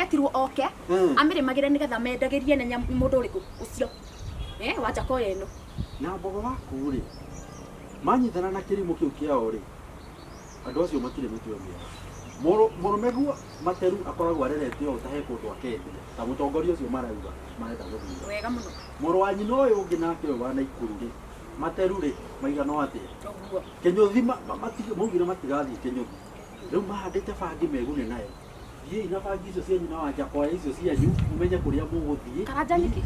Etirwo oke amĩrĩmagĩre nĩgetha mendagĩrie nĩ nyamũ mũndũ ũrĩkũ ũcio eh wa Jakoya ĩno. Na mbogo waku-rĩ, manyitana na kĩrimũ kĩu kĩao-rĩ, andũ acio matirĩ mĩtwe mĩega. Mũrũ, mũrũme guo materu akoragwo arerete ũũ ta he kũndũ akendia, ta mũtongoria ũcio marauga marenda gũthura. Wega mũno. Mũrũ wa nyina ũyũ ũngĩ nake ũyũ wa Naikuru-rĩ, materu-rĩ, maiganwo atĩa? Ũguo. Kĩnyũthi ma, ma, maugire matigathiĩ Kĩnyũthi. Rĩu mahandĩte bangi megune nayo. thiĩi na bangi icio cianyu na wanja kwaya icio cianyu mũmenye kũrĩa mũgũthiĩ karanja nĩkĩ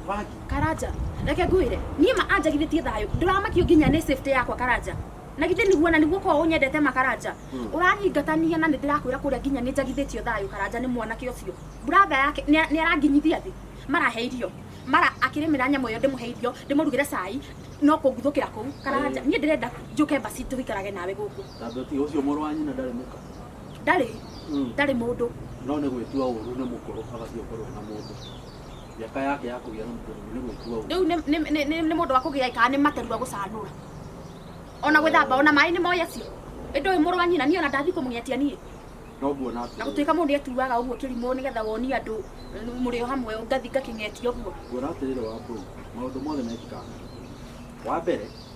bangi karanja reke ngwĩre niĩ ma anjagithĩtie thayũ ndũramakio nginya nĩ safety yakwa karanja na githĩ nĩguo na nĩguo korwo ũnyendete ma karanja ũranyingatania na nĩndĩrakwĩra kũrĩa nginya nĩnjagithĩtio thayũ karanja nĩ mwanake ũcio brother yake nĩ- nĩaranginyithia thĩ mara he irio mara akĩrĩmĩra nyamũ ĩyo ndĩmũhe irio ndĩmũrugĩre cai no kũnguthũkĩra kũu karanja niĩ ndĩrenda njũke basi tũikarage nawe gũkũ tondũ ti ũcio mũrũ wa nyina ndarĩ mũka ndarĩ Mm. ndarĩ mũndũ no nĩ gwĩtua ũru nĩ mũkũrũ agathiĩ ũkorwo na mũndũ mĩaka yake ya kũgĩa na mũndũ nĩ gwĩtua ũru rĩu nĩ- nĩ- nĩ nĩ- nĩ mũndũ wa kũgĩa kana nĩ materua gũcanũra ona gwĩthamba ona maĩ nĩ moĩ acio ĩndũ ũyũ mũrũ wa nyina niĩ ona ndathi kũmũng'etia niĩ no nguona na atĩrĩrĩ gũtuĩka mũndũ nĩ atuaga ũguo kĩrimũ nĩgetha wonie andũ eh, mũrĩ o hamwe ngathi ngakĩng'etia ũguo nguona atĩrĩrĩ wa mbũu maũndũ mothe mekĩkaga na kĩhũri. wa mbere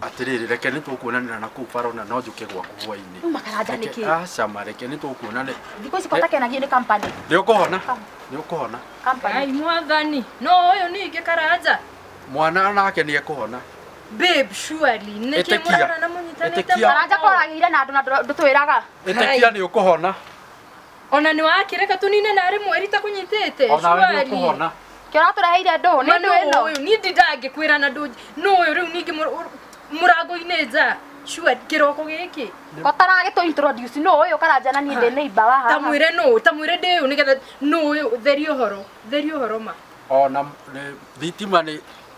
Atĩrĩrĩ, reke nĩ tũkuonanĩra na kũu Faro na no njũke gwaku hwaĩ-inĩ. Uma karanja nĩkĩ? Reke- Aca ma, reke nĩ tũkuonanĩra. Thikũ ici kotakenagio nĩ company. Nĩ ũkũhona, nĩ ũkũhona. Company. Ai mwathani, no ũyũ ningĩ karanja. Mwana nake nĩ ekũhona. Babe, surely, nĩkĩ Ĩtĩkia. mũrarana mũnyitanĩte Ĩtĩkia. moko? Karanja koragĩire na andũ na ndũ- ndũtwĩraga. Ĩtĩkia nĩ ũkũhona. Ona nĩ wake reka tũnine narĩ mweri takũnyitĩte. Ona we nĩ ũkũhona. Kĩo ũratũreheire ndũũ nĩ ndũũ ĩno. Ũyũ niĩ ndindangĩkwĩra na ndũũ nũ ũyũ rĩu ningĩ mũrango-inĩ nja. Sure kĩroko gĩkĩ. Ũtaragĩtũ introduce nũ ũyũ karanja na niĩ ndĩ neighbor wa haha. Tamwĩre nũ tamwĩre ndĩ ũyũ nĩgetha nũ ũyũ theria ũhoro theria ũhoro ma. Ona thitima nĩ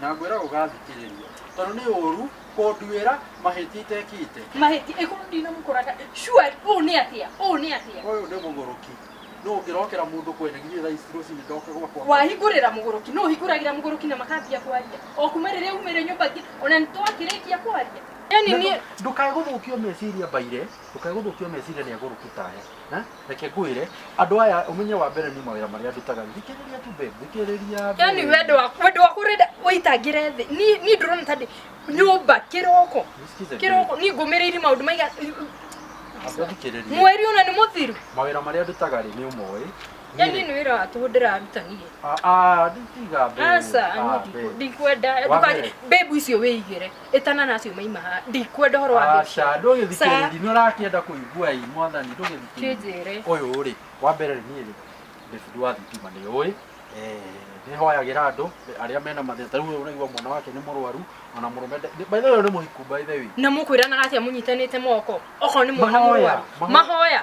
na ngwĩra ũgathikĩrĩria, tondũ nĩ ũũru kũnduĩra mahĩtia itekĩte. Mahĩtia ĩkorwo ndinamũkoraga surely ũũ nĩ atĩa ũũ nĩ atĩa Ũyũ nĩ mũgũrũki. Nũ ũngĩrokera mũndũ kwene githĩ thaa ici rũcinĩ ndoke gwakwa? wahingũrĩra mũgũrũki nũ ũhingũragĩra mũgũrũki na makambia kwaria o kuma rĩrĩa umĩre nyũmba ngi- ona nĩ twakĩrĩkia kwaria yani Na niĩ ndũ- Ndũkae gũthũkio meciria mbaire, ndũkae gũthũkio meciria nĩ agũrũki ta aya. Ha? reke ngwĩre andũ aya ũmenye wa mbere niĩ mawĩra marĩa ndutaga thikĩrĩria tu babe thikĩrĩria babe. yani wendo waku wendo waku urenda ũitangĩre thĩ Ni- niĩ ndũrona tandĩ nyũmba kĩroko Nisikize kĩroko niĩ ngũmĩrĩiri maũndũ maiga babe, ambe thikĩrĩria mweri ona nĩ mũthiru mawĩra marĩa ndutaga rĩ nĩ ũmoĩ yani Niĩ- nĩ wĩra wa tũhũ ndĩraruta niĩ Ah, ah, nditiga babe. aca Ah, babe. ndikwenda Wa mbere. ndũkage mbebu icio wĩigĩre ĩtana nacio maima haha ndikwenda ũhoro wa mbeca aca ndũgĩthikĩrĩri nĩ ũrakĩenda kũigua ĩ mwathani ndũgĩthikĩrĩri kĩnjĩre ũyũ rĩ wa mbere nĩ rĩ David wa thitima nĩ ũĩ nĩ hoyagĩra andũ arĩa mena mathĩna ta rĩu ũyũ ũraigua mwana wake nĩ mũrwaru ona mũrũme nde- nĩ- by the way ũyũ nĩ mũhiku by the way na mũkwĩranaga atĩa mũnyitanĩte moko okorwo nĩ mwana Mahoya, mũrwaru mahoya. mahoya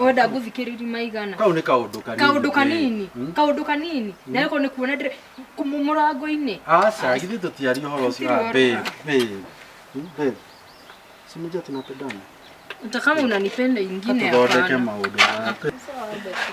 wenda ngũthikĩrĩri maigana kau nĩ kaũndũ kanini kaũndũ kanini Hmm? kaũndũ kanini na rĩko nĩ kuona ndĩrĩ kũmũ- mũrango-inĩ aca githĩ tũtiari ũhoro ũcio Tũtirĩ Ah, babe, ũhoro. babe. Hmm, babe. Si unajua tunapendana hata kama unanipenda ingine tuthondeke hapana maũndũ ma- Sawa, Betty.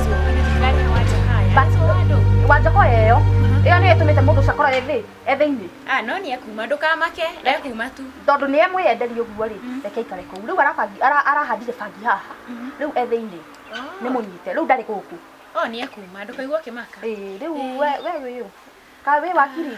wanjoko yeyo ĩyo nĩyo ĩtũmĩte mũndũ ũcio akorwo ethĩ ethĩinĩ ah no nĩ ekuma ndũkamake ekuma tu tondũ nĩ emwĩyenderia ũguo rĩ reke aikare kũu rĩu arabangi- ara- arahandire bangi haha rĩu ethĩinĩ nĩ mũnyite rĩu ndarĩ gũkũ oh nĩ ekuma ndũkaigua ũkĩmaka Ĩĩ, rĩu we we wĩũ ka wĩ wakiri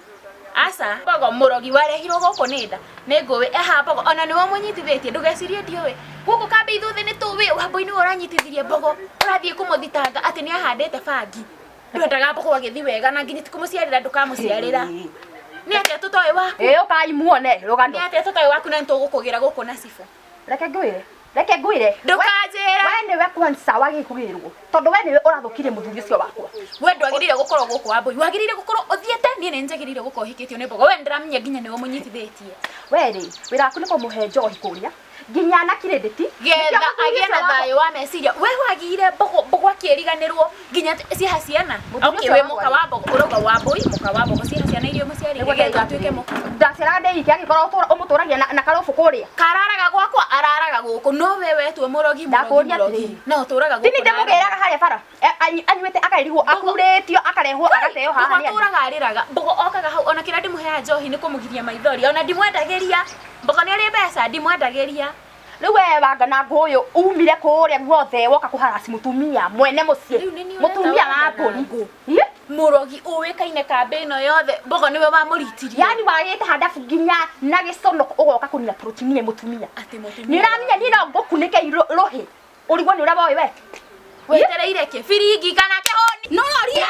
aca mbogo mũrogi warehirwo gũkũ nĩ nda nĩ ngũĩ eha mbogo ona nĩwe ũmũnyitithĩtie ndũgecirie ndiũĩ gũkũ kambe ithuothe nĩ tũĩ wambũi nĩwe ũranyitithirie mbogo ũrathiĩ kũmũthitanga atĩ nĩ ahandĩte bangi ndwendaga mbogo agĩthi wega na nginya tikũmũciarĩra ndũkamũciarĩra nĩ atĩa tũtoĩ waku ĩĩ ũkai muone rũgano nĩ atĩa tũtoĩ waku na nĩ tũgũkũgĩra gũkũ na cibũ reke ngwĩre reke ngwĩre Ndũkanjĩre. we nĩwe kwansa wagĩ kũgĩrwo tondũ we nĩwe ũrathũkirie mũthuri ũcio wakwa we ndwagĩrĩire gũkorwo gũkũ wambui wagĩrĩire gũkorwo ũthiĩte niĩ nĩ njagĩrĩire gũkorwo hikĩtio nĩ mbogo we ndĩramenya nginya nĩwe mũnyitithĩtie we rĩ wĩra waku nĩ kũmũhe njohi kũrĩa nginya na kirĩndĩti getha agĩe na thayũ wa meciria we wagĩire mbogo mbogo akĩriganĩrwo nginya t- ciaha ciana Mũtumia okay ũcio we wagwa mũka rĩ? wa mbogo ũrauga wa mbũi mũka wa mbogo ciaha ciana iria mũciarĩire Nĩguo ngai ndatuĩke ndatuĩke mũka ndacera ndä ike angä korwo må tå ragia na karå bå kå rä a kararaga gwakwa araraga gũkũ no we wetwo mũrogi Ndakũũria mũrogi, mũrogi. atĩrĩrĩ. no ũtũraga tini ndä må gä raga harä a bara anyuä te akarigwo akurä tio akarehwo agateo haha nĩ andũ. atũraga arĩraga mbogo okaga hau ona kĩrĩa ndĩmũheaga njohi nĩ kũmũgiria maithori ona ndimwendagĩria mbogo nĩ ũrĩ mbeca ndimwendagĩria Rĩu wewe wanga na ngũyũ umire kũrĩa guothe woka kũharaci mũtumia mwene mũciĩ. Rĩu nĩ niĩ Mũtumia ũreta wa wagana na ngũrũ. Ih, Mũrogi ũĩkaine kambĩ ĩno yothe. Mbogo nĩwe wamũritirie. Yaani wagĩte handabu nginya na gĩconoko ũgoka kũnina protein ĩ mũtumia. Atĩ mũtumia Nĩ ũramenya niĩ no ngũkunĩke irũ- rũhĩ. Ũrigwo nĩ ũraba ũyũ we. Wetereire kĩ? Biringi kana kĩhũni? Nũroria.